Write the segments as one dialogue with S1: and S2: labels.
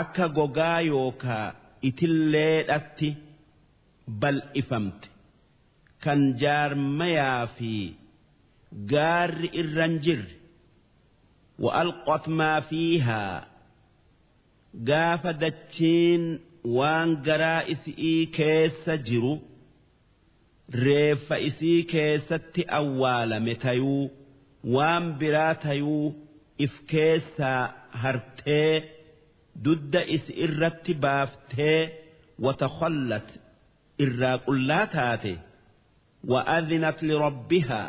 S1: akka gogaa yookaa itilleedhatti bal'ifamte kan jaarmayaa fi gaarri irra hin jirre wa'alqat maa fiihaa gaafa dachiin waan garaa isi'ii keessa jiru reeffa isii keessatti awwaalame tayuu waan biraa tayuu if keessaa hartee dudda isi irratti baaftee watakhallat irraa qullaa taate wa adhinat lirabbihaa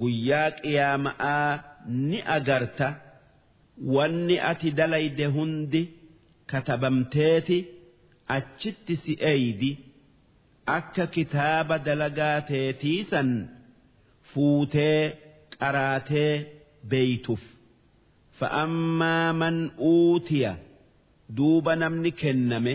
S1: Guyyaa Qiyaama'aa ni agarta, wanni ati dalayde hundi katabamteeti achitti si eeydi, akka kitaaba dalagaa teetii san fuutee qaraatee beeytuf. Fa'ammaa man uutiya, duuba namni kenname.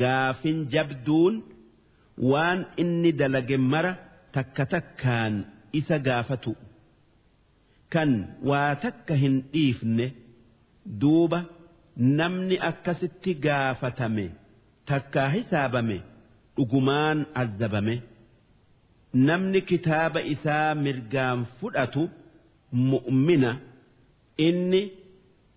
S1: Gaafin jabduun waan inni dalage mara takka takkaan isa gaafatu'u. Kan waa takka hin dhiifne. Duuba namni akkasitti gaafatame takkaa hisaabame dhugumaan azzabame. Namni kitaaba isaa mirgaan fudhatu mu'mina. Inni.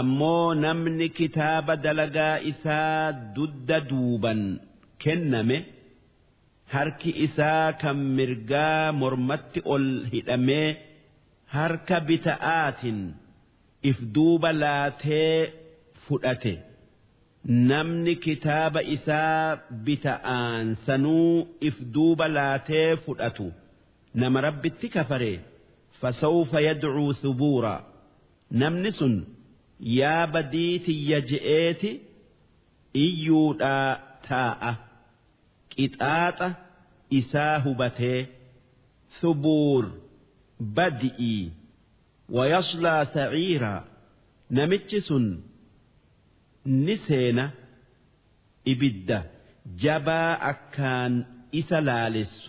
S1: Ammoo namni kitaaba dalagaa isaa dudda duuban kenname harki isaa kan mirgaa mormatti ol hidhamee harka bita'aatin if duuba laatee fudhate namni kitaaba isaa bita'aan sanuu if duuba laatee fudhatu nama Rabbitti kafare fasawfa yad'uu thubuuraa. Namni sun yaa badii tiyya je'eeti iyyuudhaa taa'a. Qixaaxa isaa hubatee. Thubuur, badi'ii. Wayaslaa sa'iiraa, namichi sun ni seena ibidda jabaa akkaan isa laalessu.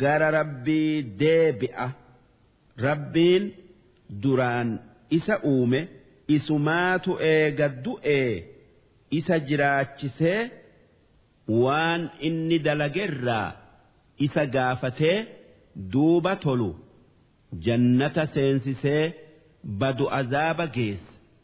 S1: gara Rabbii deebi'a. Rabbiin duraan isa uume isumaatu eega du'ee isa jiraachisee waan inni dalagerraa isa gaafatee duuba tolu jannata seensisee badu azaaba geessa.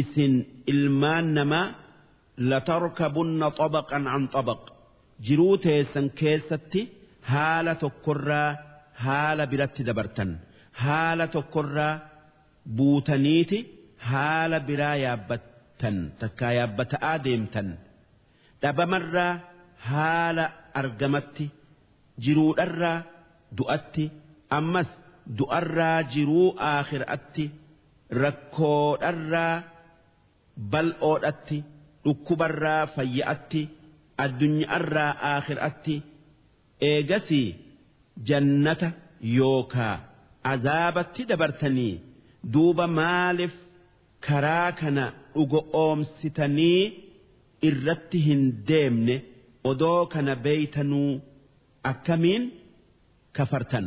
S1: Isin ilmaan namaa latarkabunna xabaqan an xabaq, jiruu teessan keessatti haala tokkorraa haala biratti dabartan, haala tokkorraa buutaniiti haala biraa yaabbattan takkaa yaabbata'aa deemtan, dhabamarraa haala argamatti, jiruudharraa du'atti, ammas du'arraa jiruu aakhira'atti. Rakkoo dharraa bal'oodhatti, dhukkubarraa fayya'atti, addunya'arraa aakhir'atti, eegasii jannata yookaa azaabatti dabartanii, duuba maalif karaa kana dhugo'oomsitanii irratti hin deemne, odoo kana beeytanuu akkamiin kafartan?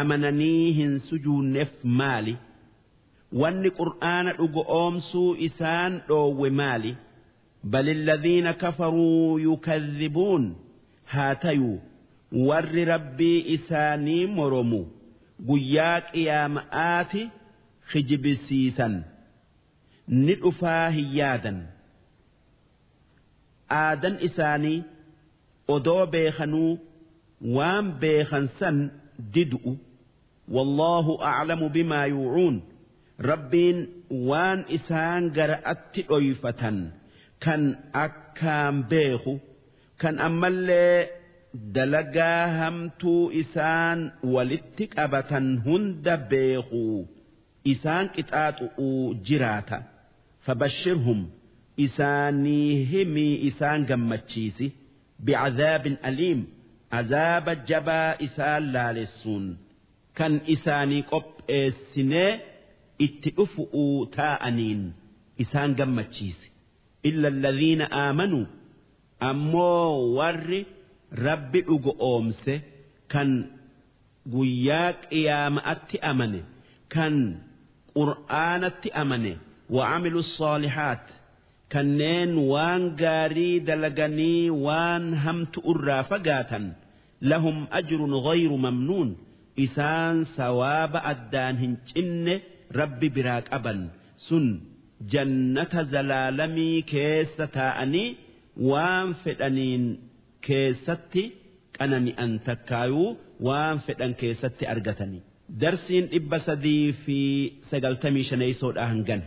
S1: amananii hin sujuunnef maali? Wanni qur'aana dhugo'oomsuu isaan dhoowwe maali? Balilladhiina kafaruu yukadhibuun haa tayuu warri Rabbii isaanii moromu guyyaa qiyaama'aati kijibisiisan ni dhufaa hin yaadan. aadan isaanii odoo beekanuu waan beekan san didu'u wallaahu a'lamu bimaa yuucuun rabbiin waan isaan gara'atti dhoyfatan kan akkaan beeku kan ammallee dalagaa hamtuu isaan walitti qabatan hunda beeku isaan qixaaxu'uu jiraata fabashshirhum isaanii himii isaan gammachiisi bi'adhaabin aliim azaaba jabaa isaan laalessuun kan isaanii qopheessinee itti dhufu'uu taa'aniin isaan gammachiisi illa alladhiina aamanu ammoo warri rabbi dhugo'oomse kan guyyaa qiyaama'atti amane kan qur'aanatti amane wa'amilu ssoolihaat kanneen waan gaarii dalaganii waan hamtu'urraa fagaatan lahum ajrun ghayru mamnuun isaan sawaaba addaan hin cinne rabbi biraa qaban sun jannata zalaalamii keessa taa'anii waan fedhaniin keessatti qanani'an takkaayuu waan fedhan keessatti argatani. Darsiin 395 eeysoodhaa hangana.